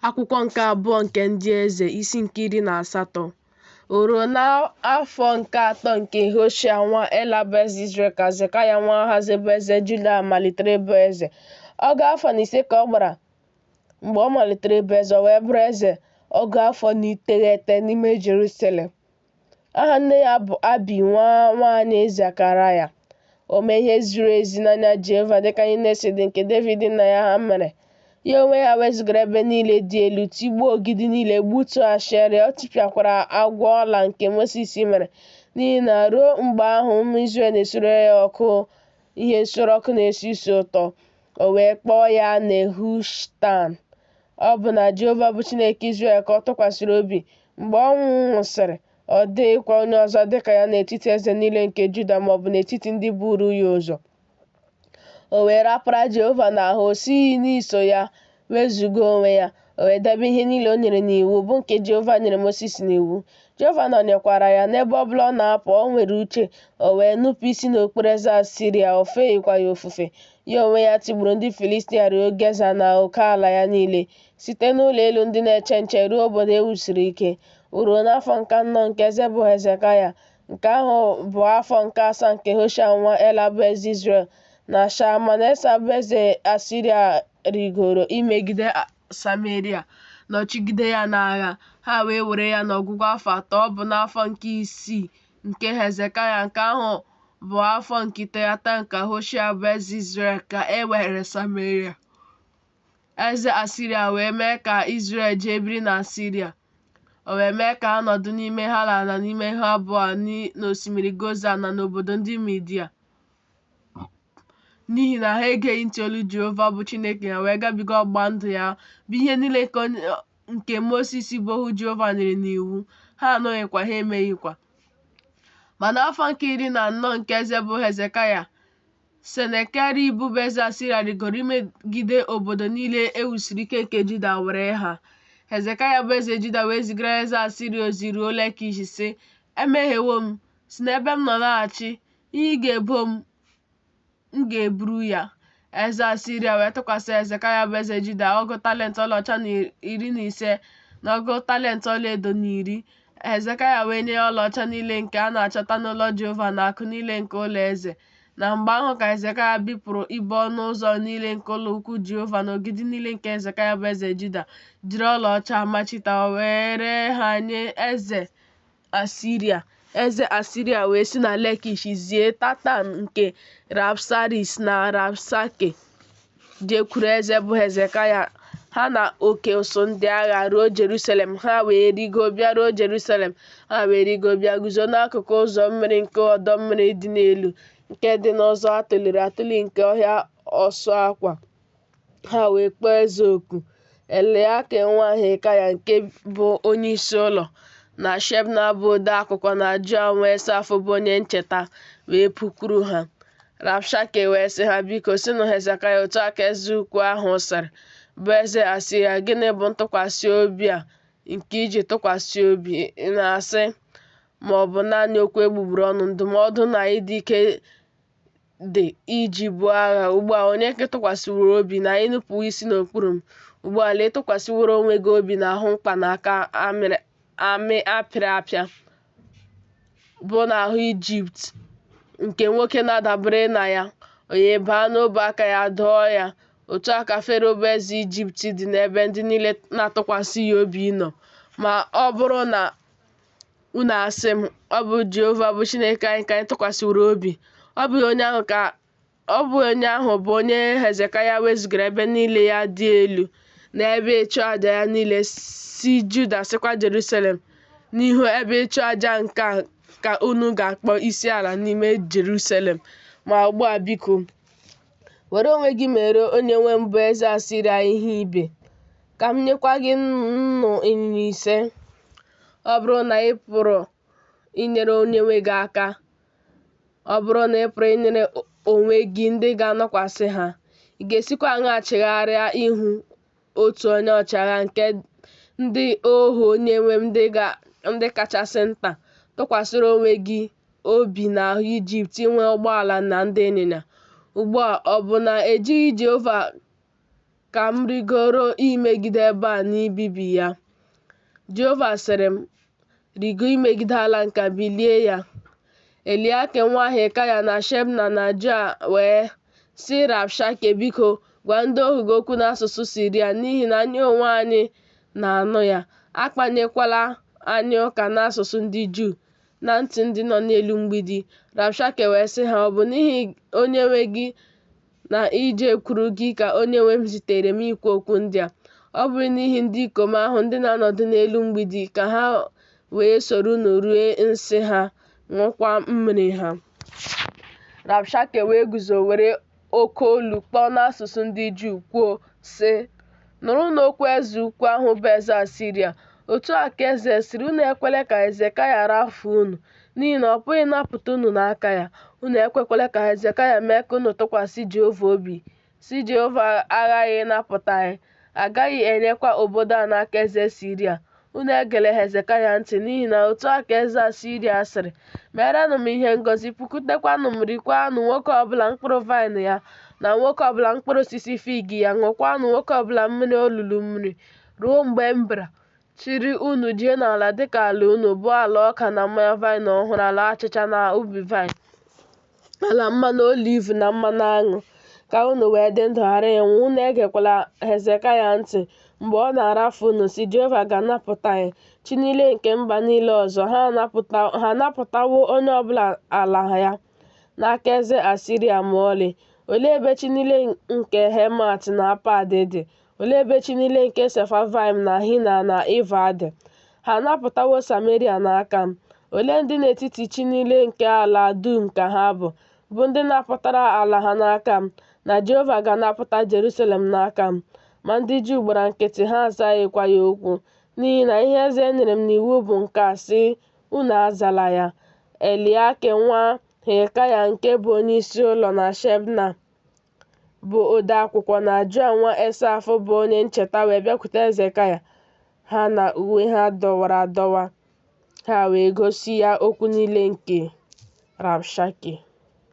Akwụkwọ nke abụọ nke ndị eze isi nke iri na asatọ o ruo n'afọ nke atọ nke Hoshea nwa Ela bụ eze Izrel ka Hezekaya nwa Ahazi bụ eze Juda malitere ịbụ eze ọgụ afọ na ise ka ọ gbara mgbe ọ malitere ịbụ eze o wee bụrụ eze ọgụ afọ na iteghete n'ime Jerusalem Aha nne ya bụ Abi nwa nwaanyị Zekaraya. O mee ihe ziri ezi n'anya Jehova dịka ihe niile si dị nke Devid nna ya ha mere. Ya onwe ya wezụgara ebe niile dị elu, tigbuo ogidi niile, gbutuo Ashera, ọ tipịakwara agwọ ọla nke Mosis mere, n'ihi na ruo mgbe ahụ ụmụ Izrel na-esure ya ọkụ ihe nsure ọkụ na-esi isi ụtọ. O wee kpọọ ya Nehushtan. Ọ bụ na Jehova bụ Chineke Izrel ka ọ tụkwasịrị obi. Mgbe ọ nwụsịrị, ọ dịghịkwa onye ọzọ dị ka ya n'etiti eze niile nke Juda ma ọ bụ n'etiti ndị buru ya ụzọ. O wee rapara Jehova n'ahụ, o sighị n'iso ya wezụga onwe ya. O wee debe ihe niile o nyere n'iwu, bụ nke Jehova nyere Mosis n'iwu. Jehova nọnyekwara ya n'ebe ọ bụla ọ na-apụ, o nwere uche, o wee nupụ isi n'okpuru eze Asiria, o feghịkwa ya ofufe. Ya onwe ya tigburu ndị Filistia ruo Geza na oke ala ya niile, site n'ụlọ elu ndị na-eche nche ruo obodo e wusiri ike. O ruo n'afọ nke anọ nke eze bụ Hezekaya, nke ahụ bụ afọ nke asaa nke Hoshea nwa Ela bụ eze Izrel, na Shalmanesa bụ eze Asiria rigoro imegide Sameria, nọchigide ya n'agha, ha wee were ya n'ọgwụgwụ afọ atọ, ọ bụ n'afọ nke isii nke Hezekaya nke ahụ bụ afọ nke iteghete nke Hoshea bụ eze Izrel ka e were Sameria. Eze Asiria wee mee ka Izrel jee biri na Asiria. O wee mee ka ha nọdụ n'ime Hala na n'ime Habọa n'osimiri Gozan na n'obodo ndị Midia. n'ihi na ha egeghị ntị olu Jehova bụ Chineke ha wee gabiga ọgbụgba ndụ ya bụ ihe niile nke nke Mosis bụ ohu Jehova nyere n'iwu, ha anụghịkwa, ha emeghịkwa. Ma n'afọ nke iri na anọ nke eze bụ Hezekaya, Senakerib bụ eze Asiria rigoro imegide obodo niile e wusiri ike nke Juda were ha. Hezekaya bụ eze Juda wee zigara eze Asiria ozi ruo Lekish, sị, Emehiewo m, si n'ebe m nọ laghachi, ihe ị ga-ebo m M ga-eburu ya. Eze Asiria wee tụkwasị Hezekaya bụ eze Juda ọgụ talent ọlaọcha na iri na ise na ọgụ talent ọlaedo na iri. Hezekaya wee nye ya ọlaọcha niile nke a na-achọta n'ụlọ Jehova na akụ niile nke ụlọ eze. Na mgbe ahụ ka Hezekaya bipụrụ ibo ọnụ ụzọ niile nke ụlọ ukwu Jehova na ogidi niile nke Hezekaya bụ eze Juda, jiri ọlaọcha machita were ha nye eze Asiria. Eze Asiria wee si na Lekish zie Tatan nke Rabsaris na Rabshake jekwuru eze bụ Hezekaya ha na oke ụsụ ndị agha ruo Jerusalem ha wee rigo bịaruo Jerusalem ha wee rigo bịa guzo n'akụkụ ụzọ mmiri nke ọdọ mmiri dị n'elu nke dị n'ụzọ atụliri atụli nke ọhịa ọsụ akwa Ha wee kpọọ eze oku, Eliakim nwa Hilkaya nke bụ onye isi ụlọ, na Shebna bụ ode akwụkwọ na Joa nwa Asaf bụ onye ncheta wee pụkwuru ha. Rabshake wee sị ha, Biko, sịnụ Hezekaya otu a ka eze ukwu ahụ sịrị, bụ eze Asiria, gịnị bụ ntụkwasị obi a nke i ji tụkwasị obi ị na-asị ma ọ bụ naanị okwu egbugbere ọnụ, ndụmọdụ na ịdị ike dị iji buo agha ugbu a onye ka ị tụkwasịworo obi na i nupụwo isi n'okpuru m ugbu a lee ị tụkwasịworo onwe gị obi n'ahụ mkpa n'aka amị apịrị apịa bụ n'ahụ ijipt nke nwoke na-adabere na ya o wee baa n'ọbụ aka ya dọọ ya otu a ka fero bụ eze ijipt dị n'ebe ndị niile na-atụkwasị ya obi nọ ma ọ bụrụ na Unu asị m, ọ bụ Jehova bụ Chineke anyị ka anyị tụkwasịworo obi. Ọ bụghị onye ahụ bụ onye Hezekaya wezụgara ebe niile ya dị elu na ebe ịchụ aja ya niile sị Juda sịkwa Jerusalem n'ihu ebe ịchụ aja nke a ka unu ga-akpọ isi ala n'ime Jerusalem. Ma ugbu a biko, Were onwe gị mere onyenwe m bụ eze Asiria ihe ibe, ka m nyekwa gị nnụ ịnyịnya ise. Ọ bụrụ na ị pụrụ inyere onyenwe gị aka, ọ bụrụ na ị pụrụ inyere onwe gị ndị ga-anọkwasị ha, ị ga-esikwa aṅaa chigharịa ihu otu onye ọchịagha nke ndị ohu Onyenwe m ndị kachasị nta, tụkwasịrị onwe gị obi n'ahụ Ijipt inwe ụgbọala na ndị ịnyịnya. Ugbu a, ọ bụ na ejighị Jehova ka m rigoro imegide ebe a na ibibi ya? Jehova sịrị m, Rigo imegide ala nke a bilie ya, Eliakim nwa Hilkaya na Shebna na Joa wee sị Rabshake, Biko, gwa ndị ohu gị okwu n'asụsụ Siria n'ihi na anyị onwe anyị na-anụ ya. Akpanyekwala anyị ụka n'asụsụ ndị Juu na ntị ndị nọ n'elu mgbidi. Rabshake wee sị ha, Ọ bụ n'ihi onyenwe gị na ijekwuru gị ka onye nwe m zitere m ikwu okwu ndị a. Ọ bụrụ n'ihi ndị ikom ahụ ndị na-anọdụ n'elu mgbidi ka ha wee soro unu rie nsị ha, ṅụkwa mmiri ha. Rabshake wee guzo were oke olu kpọọ n'asụsụ ndị Juu kwuo, sị, Nụrụnụ okwu eze ukwu ahụ bụ eze Asiria, otu a ka eze sịrị, Unu ekwela ka Hezekaya rafuo unu, n'ihi na ọ pụghị ịnapụta unu n'aka ya. Unu ekwekwala ka Hezekaya mee ka unu tụkwasị Jehova obi, sị Jehova aghaghị ịnapụta anyị, a gaghị enyekwa obodo a n'aka eze Asiria. Unu egela Hezekaya ntị, n'ihi na otu a ka eze Asiria sịrị, Meerenụ m ihe ngozi, pụkutekwanụ m, rikwaanụ nwoke ọbụla mkpụrụ vaịnị ya, na nwoke ọbụla mkpụrụ osisi fig ya, ṅụkwaanụ nwoke ọbụla mmiri olulu mmiri, ruo mgbe m bịara, chịrị unu jee n'ala dịka ala unu, bụ ala ọka na mmanya vaịnị ọhụrụ, ala achịcha na ubi vaịnị. ala mmanụ oliv na mmanụ aṅụ ka unu wee dị ndụ ghara ịnwụ unu egekwala hezekaya ntị mgbe ọ na-arafu unu sị jehova ga-anapụta anyị chi niile nke mba niile ọzọ ha anapụtawo onye ọbụla ala ya n'aka eze asiria ma ọlị olee ebe chi niile nke hemat na apad dị Olee ebe chi niile nke Sefavaim na Hina na Iva dị? Ha anapụtawo Sameria n'aka m. Olee ndị n'etiti chi niile nke ala dum ka ha bụ, bụ ndị napụtara ala ha n'aka m, na Jehova ga-anapụta Jerusalem n'aka m? Ma ndị Juu gbara nkịtị, ha azaghịkwa ya okwu, n'ihi na ihe eze nyere m n'iwu bụ nke a, sị, Unu azala ya. Eliakim nwa Hilkaya nke bụ onyeisi ụlọ na Shebna bụ odeakwụkwọ na Joa nwa Esaf bụ onye ncheta wee bịakwute Hezekaya, ha na uwe ha dọwara adọwa, ha wee gosi ya okwu niile nke Rabshake.